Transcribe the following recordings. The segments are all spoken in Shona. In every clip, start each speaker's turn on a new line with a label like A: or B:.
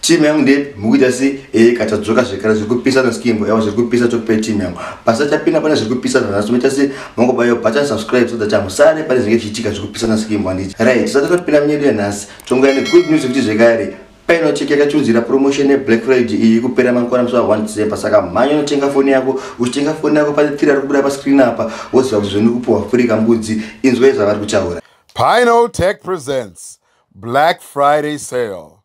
A: team yangu ndei mukuita
B: sei ee eh, katadzoka zvekare zviri kupisa neskimbo yavo zviri kupisa tokupei team yangu pasachapinda pane zviri kupisa nanhasi tomaita sei mongobaiwa button subscribe so that hamusare pane zvinenge zvichiitika zviri kupisa neskimbo handiti right tisati totopinda munyedu yanhasi tongouya negood news yekuti zvekare paino cheki yakachunzira promotion yeblack friday iyi kupera mangwana musi wa1 december saka mhanya unotenga foni yako uchitenga foni yako pane tiri ari kubuda pascreen apa woziva kuti zveni kupuhwa furi kambudzi inzwai zvavari kuchaura pino tech
A: presents black friday sale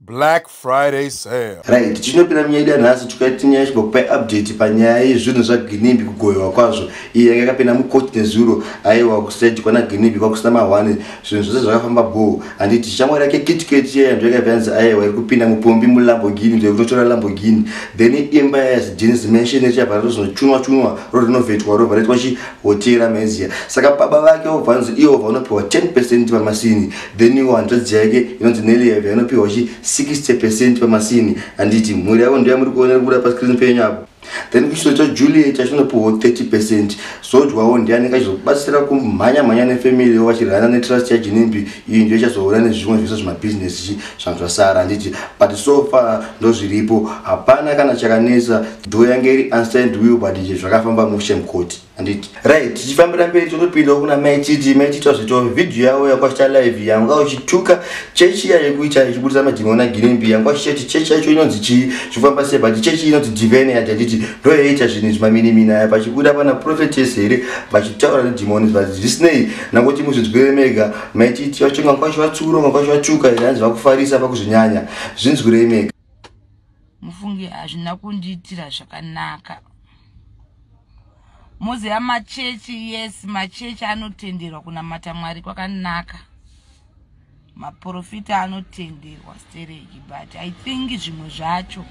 A: Black Friday sale. Right, tichinopira munyaya
B: yedu yanhasi tikaita nyaya yesvika kupai update panyaya yezvinhu zvaGinimbi kugoyewa kwazvo iye yanga yakapinda mucourt nezuro aiwa kustage kwana Ginimbi kwakusina mahwani zvinhu zvose zvakafamba bhoo handiti shamwari yake kitket iya yanzva yakabva yanzi aiwa iri kupinda mupombi mulamborghini kuti kunotora lamborghini then imba yaya yazigenes mansion ichabva ratozonocunwa cunwa rorinovetwa robva raitwa chi hotel amezia saka baba vake obva anzi iwo vanopiwa 10 percent pamasini then iwo hanzvadzi yake inonzi nelieve anopiwa chi 60 percent pamasini handiti mhuri yavo ndoya muri kuona kubuda pascreen penyu apo then kuchito chajuliet achinopiwa 30 percent zodwawo ndiani kachizobatsira kumhanya mhanya nefamily vachirana netrust yajinimbi iyi ndiyo ichazoona nezvimwe zvese zvemabhizinesi chi zvanhu zvasara handiti but so far ndozviripo hapana kana chakanetsa do yange iri unsigned will but izvi zvakafamba mushe mukoti handiti right tichifambira mberi totopinda kuna mai chiti mai chiti wazvito vhidhiyo yavo yakwashita live yanga uchituka chechi iya yekuita ichibudisa madhimona girimbi yanga uchichati chechi yacho inonzi chii zvifamba sei but chechi inonzi divene yati handiti ndo yaiita zvinhu izvi maminimini aya pachibuda pana prophetes here vachitaura nedhimoni but zvisinei nangoti muzvinzwire mega mai chiti wacho ngakwashiwatsuro ngakwashiwatuka here hanzi vakufarisa pakuzvinyanya zvinzwirei mega mufunge
C: hazvina kundiitira zvakanaka moziva machechi yes machechi anotenderwa kunamata mwari kwakanaka maprofita anotenderwa stereki but i think zvimwe zvacho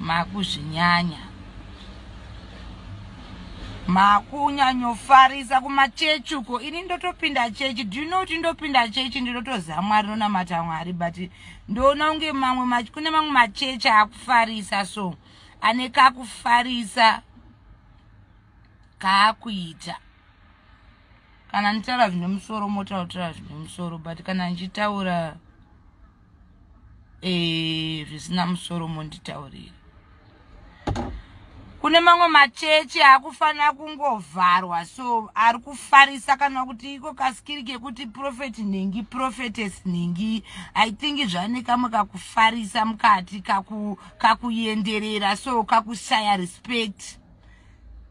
C: makuzvinyanya makunyanyofarisa kumachechi uko ini ndotopinda chechi do you know kuti ndopinda chechi ndinotoziva mwari nonamata mwari but ndoona unge mamwe kune mamwe machechi akufarisa so ane kakufarisa kaakuita kana nditaura zvine musoro motautira zvine musoro but kana ndichitaura e, zvisina musoro monditaurira kune mamwe machechi akufanira kungovharwa so ari kufarisa kana kuti iko kasikiri kekuti prophet nhingi prophetes nhingi i think zvane kamwe kakufarisa mukati kakuenderera kaku so kakushaya respect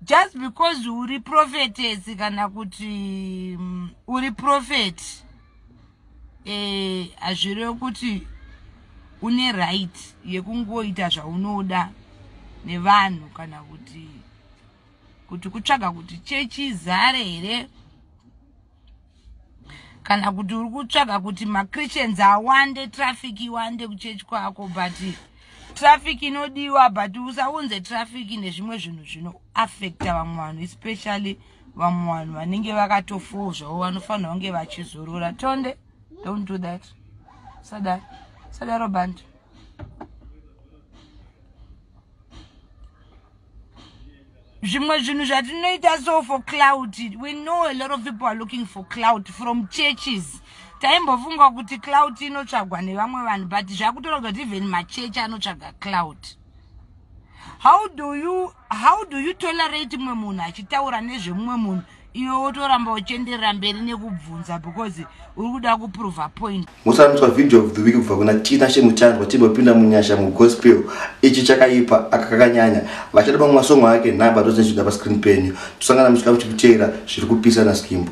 C: just because uri prophetes kana kuti um, uri prophet eh, hazvirevo kuti une right yekungoita zvaunoda nevanhu kana kuti kuti kutsvaga kuti chechi izare here kana kuti uri kutsvaga kuti machristians awande traffic iwande kuchechi kwako but traffic inodiwa but usaunze traffic nezvimwe zvinhu zvinoaffecta vamwe vanhu especially vamwe vanhu vanenge vakatofoo zvavo vanofanira kunge vachizorora tonde don't do that sadaro sadaro bandi zvimwe zvinhu zvatinoita so for cloud we know a lot of people are looking for cloud from churches taimbofunga kuti cloud inotsvagwa nevamwe vanhu but zvakutoraga kuti even machechi anotsvaga cloud how do you how do you tolerate mumwe munhu achitaura nezvemumwe munhu iwe wotoramba uchenderera mberi nekubvunza because uri kuda kuprova point musanatswa video of the
B: week kubva kuna tina shemutandwa timbopinda munyasha mugospel ichi chakaipa akakakanyanya vachada pamwe masongo ake nhamba tozinzvida pascreen penyu tosangana musika muchikuteera zviri kupisa naskimbo